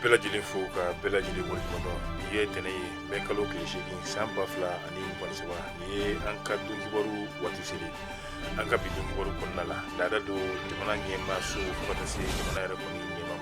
bɛɛ lajɛlen fo ka bɛɛ lajɛlen waleɲumandɔn nin ye tɛnɛn ye mɛ kalo tile seegin san ba fila ani mugan saba nin ye an ka don kibaru waati seli an ka bi don kibaru kɔnɔna la laada don jamana ɲɛma so fo ka taa se jamana yɛrɛ kɔni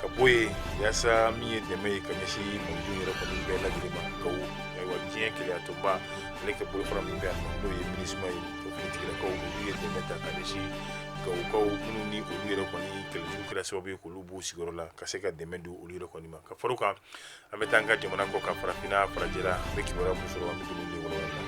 ka bɔ yen yasa min ye dɛmɛ ye ka ɲɛsin malidenw yɛrɛ kɔni bɛɛ lajɛlen ma gawo ayiwa diɲɛ kelenyatɔnba ale ka bolofara min bɛ yan nɔ n'o ye minisuma ye o finitigilakaw olu ye dɛmɛ ta ka ɲɛsin gawokaw minnu ni olu yɛrɛ kɔni kɛlɛjugu kɛra sababu ye k'olu b'u sigiyɔrɔ la ka se ka dɛmɛ don olu yɛrɛ kɔni ma ka far'o kan an bɛ taa an ka jamana kɔkan farafinna farajɛla an bɛ kibaruya mun sɔrɔ an bɛ don olu wɔlɔwɔlɔ la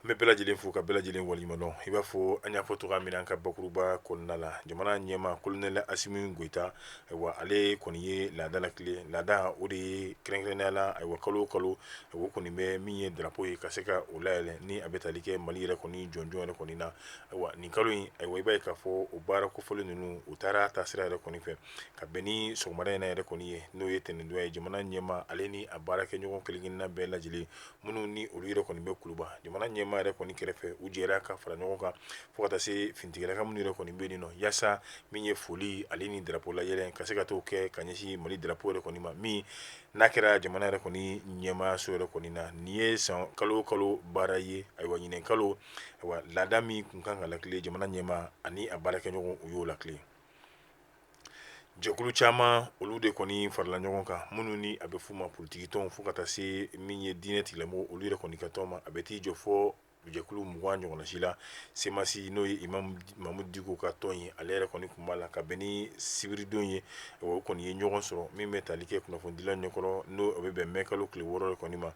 an bɛ bɛɛ lajɛlen fo ka bɛɛ lajɛlen waleɲumandɔn i b'a fɔ an y'a fɔ cogoya min na an ka bakuruba kɔnɔna la jamana ɲɛma kolonɛli asimi goyita ayiwa ale kɔni ye laada lakile laada o de ye kɛrɛnkɛrɛnnenya la ayiwa kalo o kalo o kɔni bɛ min ye drapo ye ka se ka o layɛlɛn ni a bɛ tali kɛ mali yɛrɛ kɔni jɔnjɔn yɛrɛ kɔni na ayiwa nin kalo in ayiwa i b'a ye k'a fɔ o baara kofɔlen ninnu u taara taasira yɛrɛ kɔni fɛ ka bɛn ni sɔgɔmada in na yɛrɛ kɔni ye n'o ye tɛnɛndon ye jamana ɲɛma ale ni a baarakɛɲɔgɔn kelenkelenna bɛɛ lajɛlen minnu ni olu yɛrɛ kɔni bɛ kuluba jamana ɲɛmaa yɛrɛ kɔni kɛrɛfɛ u jɛra ka fara ɲɔgɔn kan fo ka taa se finitigilakaw minnu yɛrɛ kɔni bɛ yen nɔ yasa min ye foli ale ni darapo layɛlɛn ka se ka t'o kɛ ka ɲɛsin mali darapo yɛrɛ kɔni ma min n'a kɛra jamana yɛrɛ kɔni ɲɛmaa so yɛrɛ kɔni na nin ye sa kalo o kalo baara ye ayiwa nin kalo laada min tun kan ka lakile jamana ɲɛma ani a baarakɛɲɔgɔn u y'o lakile jɛkulu caman olu de kɔni farala ɲɔgɔn kan minnu ni a bɛ f'u ma politikitɔnw fo ka taa se min ye diinɛ tigilamɔgɔw olu yɛrɛ kɔni ka tɔn ma a bɛ t'i jɔ fo jɛkulu mugan ɲɔgɔnna si la semasi n'o ye mamudu diko ka tɔn ye ale yɛrɛ kɔni tun b'a la ka bɛn ni sibiridon ye o kɔni ye ɲɔgɔn sɔrɔ min bɛ tali kɛ kunnafonidilaw ɲɛkɔrɔ n'o bɛ bɛn mɛ kalo tile wɔɔrɔ yɛrɛ kɔni ma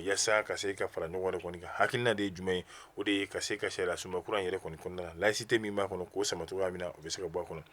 yasa ka se ka fara ɲɔgɔn yɛrɛ kɔni kan hakilina de ye jumɛn ye o de ye ka se ka sariyasunba kura yɛrɛ kɔni kɔnɔna la laïcité min b'a kɔnɔ k'o sama cogoya min na o bɛ se ka bɔ a kɔnɔ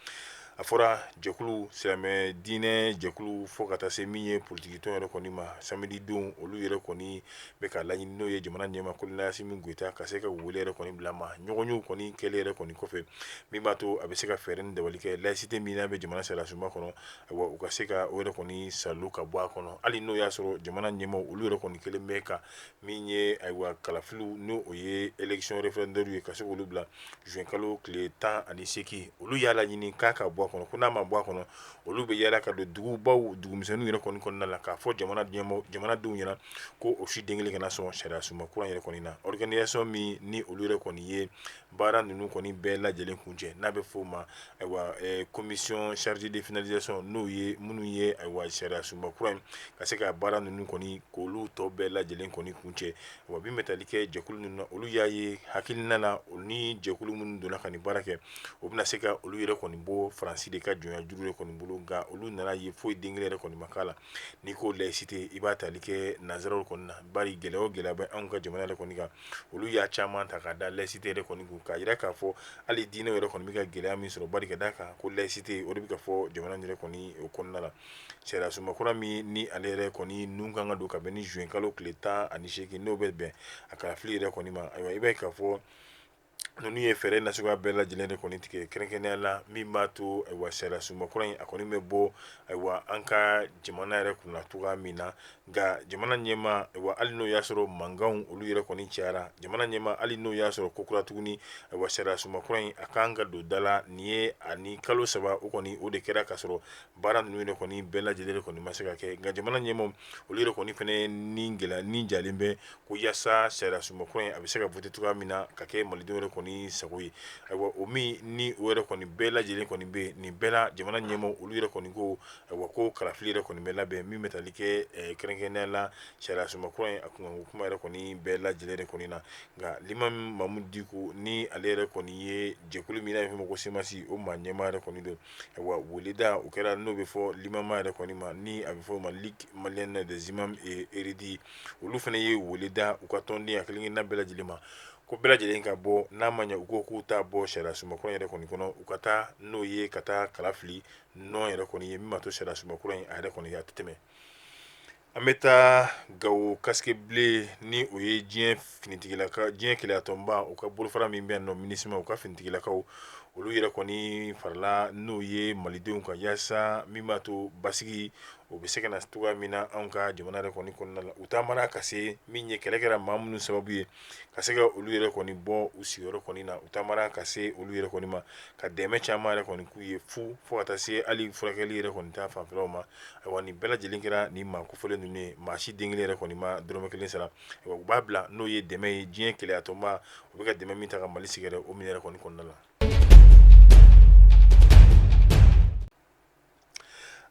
a fɔra jɛkulu silamɛ diinɛ jɛkulu fo ka taa se min ye politikitɔn yɛrɛ kɔni ma samedi don olu yɛrɛ kɔni bɛ ka laɲini n'o ye jamana ɲɛma kolonɛli asimi goyita ka se ka wele yɛrɛ kɔni bila ma ɲɔgɔnyew kɔni kɛlen yɛrɛ kɔni kɔfɛ min b'a to a bɛ se ka fɛɛrɛ ni dabali kɛ laïcité min n'a bɛ jamana sariyasunba kɔnɔ ayiwa u ka se ka o yɛrɛ kɔni salo ka bɔ a kɔnɔ hali n'o y'a sɔrɔ jamana ɲɛmaw olu yɛrɛ kɔni kɛlen bɛ ka min ye ayiwa kalafiliw n'o ye élection référendaire ye ka se k'olu bila juin kalo tile tan ani seegin olu y'a laɲini k'a ka bɔ a kɔnɔ ko n'a ma bɔ a kɔnɔ olu bɛ yaala ka don dugubaw dugumisɛnninw yɛrɛ kɔni kɔnɔna la k'a fɔ jamana ɲɛmɔgɔ jamanadenw ɲɛna ko o si den kelen kana sɔn sariyasunba kura yɛrɛ kɔni na organisation min ni olu yɛrɛ kɔni ye baara ninnu kɔni bɛɛ lajɛlen kuncɛ n'a bɛ f'o ma ayiwa commission chargée de finalisation n'o ye minnu ye ayiwa sariya sunba kura in ka se ka baara ninnu kɔni k'olu tɔ bɛɛ lajɛlen kɔni kuncɛ wa min bɛ tali kɛ jɛkulu ninnu na olu y'a ye hakilina la o ni jɛkulu minnu donna ka nin baara kɛ o bɛna se ka olu yɛrɛ kɔni bɔ faransi de ka jɔnya juru yɛrɛ kɔni bolo nka olu nana ye foyi den kelen yɛrɛ kɔni ma k'a la n'i ko layisite i b'a tali kɛ nanzaraw kɔni na bari gɛlɛya o gɛlɛya bɛ anw ka jamana yɛrɛ kɔni kan olu y'a caman ta k'a da layisite yɛrɛ kɔni kan k'a jira k'a fɔ hali diinɛ yɛrɛ kɔni bɛ ka gɛlɛya min sɔrɔ bari ka d'a kan ko layisite o de bɛ ka fɔ jamana yɛrɛ kɔni o kɔnɔna la sariya sunba kura min ni ale yɛrɛ kɔni nun kan ka don ka bɛn ni zuwɛnkalo tile tan ani segin n'o bɛ bɛn a kalafili yɛrɛ kɔni ma ayiwa i b'a ye k'a fɔ ninnu ye fɛɛrɛ nasuguya bɛɛ lajɛlen de kɔni tigɛ kɛrɛnkɛrɛnnenya la min b'a to ayiwa sariya sunba kura in a kɔni bɛ bɔ ayiwa an ka jamana yɛrɛ kunna cogoya min na nka jamana ɲɛmaa ayiwa hali n'o y'a sɔrɔ mankanw olu yɛrɛ kɔni cayara jamana ɲɛmaa hali n'o y'a sɔrɔ kokura tuguni ayiwa sariya sunba kura in a kan ka don da la nin ye ani kalo saba o kɔni o de kɛra ka sɔrɔ baara ninnu yɛrɛ kɔni bɛɛ lajɛlen de kɔni ma se ka kɛ nka jamana ɲɛmaaw olu yɛrɛ kɔni fana ni gɛlɛya ni jalen bɛ ko yaasa sariya sunba kura in a bɛ se ka voter cogoya min na ka kɛ malidenw yɛrɛ kɔni sago ye ayiwa o min ni o yɛrɛ kɔni bɛɛ lajɛlen kɔni bɛ yen nin bɛɛ la jamana ɲɛmaaw olu yɛrɛ kɔni ko ayiwa ko kalafili yɛrɛ kɔni bɛ labɛn min bɛ tali kɛ eh, kɛrɛnkɛrɛnnenya la sariya sunba kura in a kunkanko kuma yɛrɛ kɔni bɛɛ lajɛlen de kɔni na nka limami mamudu diko ni ale yɛrɛ kɔni ye jɛkulu min n'a bɛ f'o ma ko semasi o maa ɲɛmaa yɛrɛ kɔni don Weleda o kɛra n'o bɛ fɔ limama yɛrɛ kɔni ma ni a bɛ f'o ma ligue malienne des imams et érudits olu fana ye wele da u ka tɔnden a kelen kelenna bɛɛ lajɛlen ma ko bɛɛ lajɛlen ka bɔ n'a ma ɲɛ u ko k'u t'a bɔ sariya sunba kura yɛrɛ kɔni kɔnɔ u ka taa n'o ye ka taa kalafili non yɛrɛ kɔni ye min b'a to sariya sunba kura in a yɛrɛ kɔni a tɛ tɛmɛ An bɛ taa gawo casques bleus ni o ye diɲɛ finitigilaka diɲɛ keleyatɔnba u ka bolofara min bɛ yan nɔ minusma u ka finitigilakaw olu yɛrɛ kɔni farala n'o ye malidenw kan yaasa min b'a to basigi o bɛ se ka na cogoya min na an ka jamana yɛrɛ kɔni kɔnɔna la u taamara ka se min ye kɛlɛ kɛra maa minnu sababu ye ka se ka olu yɛrɛ kɔni bɔ u sigiyɔrɔ kɔni na u taamara ka se olu yɛrɛ kɔni ma ka dɛmɛ caman yɛrɛ kɔni k'u ye fu fo ka taa se hali furakɛli yɛrɛ kɔni ta fanfɛlaw ma ayiwa nin bɛɛ lajɛlen kɛra nin maa kofɔlen ninnu ye maa si den kelen yɛrɛ kɔni ma dɔrɔmɛ kelen sara ayiwa u b'a bila n'o ye dɛmɛ ye diɲɛ keleyatɔnba u bɛ ka dɛmɛ min ta ka mali sɛgɛrɛ o min yɛrɛ kɔni kɔnɔna la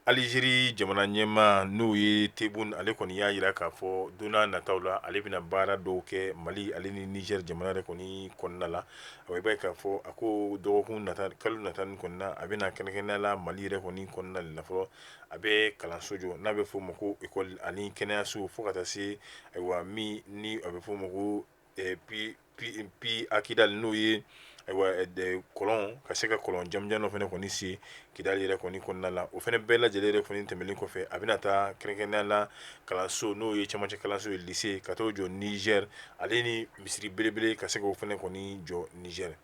Alizeri jamana ɲɛmaa n'o ye tebboune ale kɔni y'a jira k'a fɔ don nataw la ale bɛna baara dɔw kɛ mali ale ni nizɛri jamana yɛrɛ kɔni kɔnɔna la i b'a ye k'a fɔ a ko dɔgɔkun nata kalo nata nin kɔnɔna a bɛna kɛrɛnkɛrɛnnenya la mali yɛrɛ kɔni kɔnɔna la fɔlɔ a bɛ kalanso jɔ n'a bɛ f'o ma ko école ani kɛnɛyaso fo ka taa se ayiwa min ni a bɛ f'o ma ko pi a Kidali n'o ye ayiwa kɔlɔn ka se ka kɔlɔn jamanjan dɔ fana kɔni sen Kidali yɛrɛ kɔni kɔnɔna la o fana bɛɛ lajɛlen yɛrɛ kɔni tɛmɛnen kɔfɛ a bɛna taa kɛrɛnkɛrɛnya la kalanso n'o ye cɛmancɛ kalanso ye lise ka taa o jɔ Nizɛri ale ni misiri belebele ka se k'o fana kɔni jɔ Nizɛri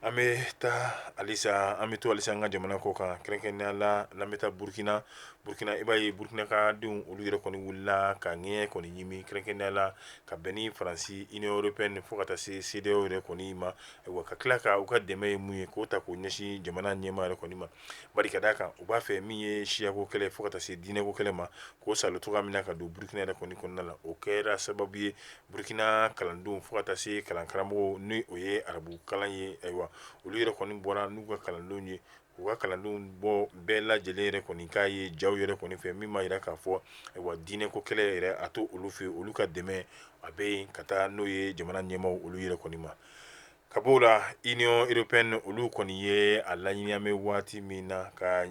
An bɛ taa halisa an bɛ to halisa an ka jamana kɔ kan kɛrɛnkɛrɛnya la n'an bɛ taa Burukina, Burukina i b'a ye Burukina ka denw olu yɛrɛ kɔni wulila ka ɲɛ kɔni ɲimi kɛrɛnkɛrɛnnenya la ka bɛn ni Faransi Union Européenne fo ka taa se CEDEAO yɛrɛ kɔni ma, ayiwa ka tila ka u ka dɛmɛ ye min ye k'o ta k'o ɲɛsin jamana ɲɛmaa yɛrɛ kɔni ma, bari ka d'a kan u b'a fɛ min ye siyako kɛlɛ fo ka taa se diinɛko kɛlɛ ma k'o salo cogoya min na ka don Burukina yɛrɛ kɔni kɔnɔna la, o kɛra sababu ye Burukina kalandenw fo ka taa se kalankaramɔgɔw n' o ye arabu kalan ye ayiwa olu yɛrɛ kɔni bɔra n'u ka kalandenw ye u ka kalandenw bɔ bɛɛ lajɛlen yɛrɛ kɔni k'a ye jaw yɛrɛ kɔni fɛ min b'a jira k'a fɔ ayiwa diinɛko kɛlɛ yɛrɛ a to olu fɛ olu ka dɛmɛ a bɛ yen ka taa n'o ye jamana ɲɛmaaw olu yɛrɛ kɔni ma Ka b'o la Union Européenne olu kɔni ye a laɲini an bɛ waati min na ka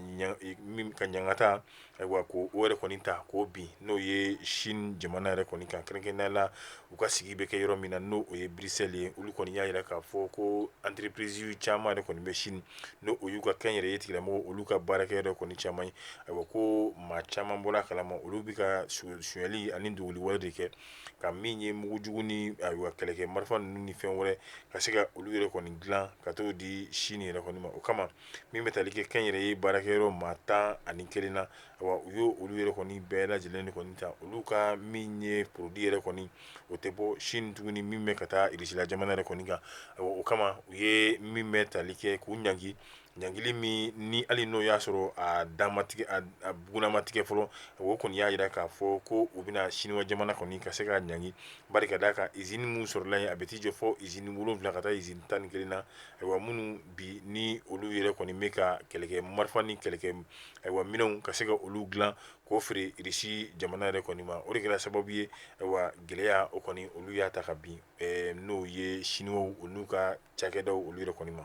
ɲangata ayiwa ko o yɛrɛ kɔni ta k'o bin n'o ye sini jamana yɛrɛ kɔni kan kɛrɛnkɛrɛnya la u ka sigi bɛ kɛ yɔrɔ min na n'o o ye Bruxelles ye olu kɔni y'a jira k'a fɔ ko entreprise caman yɛrɛ kɔni bɛ sini n' o y'u ka kɛnyɛrɛye tigilamɔgɔ olu ka baarakɛ yɛrɛ kɔni caman ye ayiwa ko maa caman bɔra a kalama olu bɛ ka sonyali ani dogoli wale de kɛ ka min ye mugujugu ni ayiwa kɛlɛkɛ marifa ninnu ni fɛn wɛrɛ ka se ka olu yɛrɛ kɔni dilan ka taa o di sini yɛrɛ kɔni ma o kama min bɛ tali kɛ kɛnyɛrɛye baarakɛyɔrɔ maa tan ani kelen na ayiwa u y' olu yɛrɛ kɔni bɛɛ lajɛlen de kɔni ta olu ka min ye produit yɛrɛ kɔni o tɛ bɔ sini tuguni min bɛ ka taa irisila jamana yɛrɛ kɔni kan ayiwa o kama u ye min bɛ tali kɛ k'u ɲ ɲangili min ni hali n'o y'a sɔrɔ a dan ma tigɛ a bugunna ma tigɛ fɔlɔ o kɔni y'a jira k'a fɔ ko u bɛna siniwa jamana kɔni ka se ka ɲangi bari ka d'a kan izini minnu sɔrɔla yen a bɛ t'i jɔ fo izini wolonwula ka taa izini tan ni kelen na ayiwa minnu bi ni olu yɛrɛ kɔni bɛ ka kɛlɛkɛ marifa ni kɛlɛkɛ ayiwa minɛnw ka se ka olu dilan k'o feere irisi jamana yɛrɛ kɔni ma o de kɛra sababu ye ayiwa gɛlɛya o kɔni olu y'a ta ka bin n'o ye siniwaw olu ka cakɛdaw olu yɛrɛ kɔni ma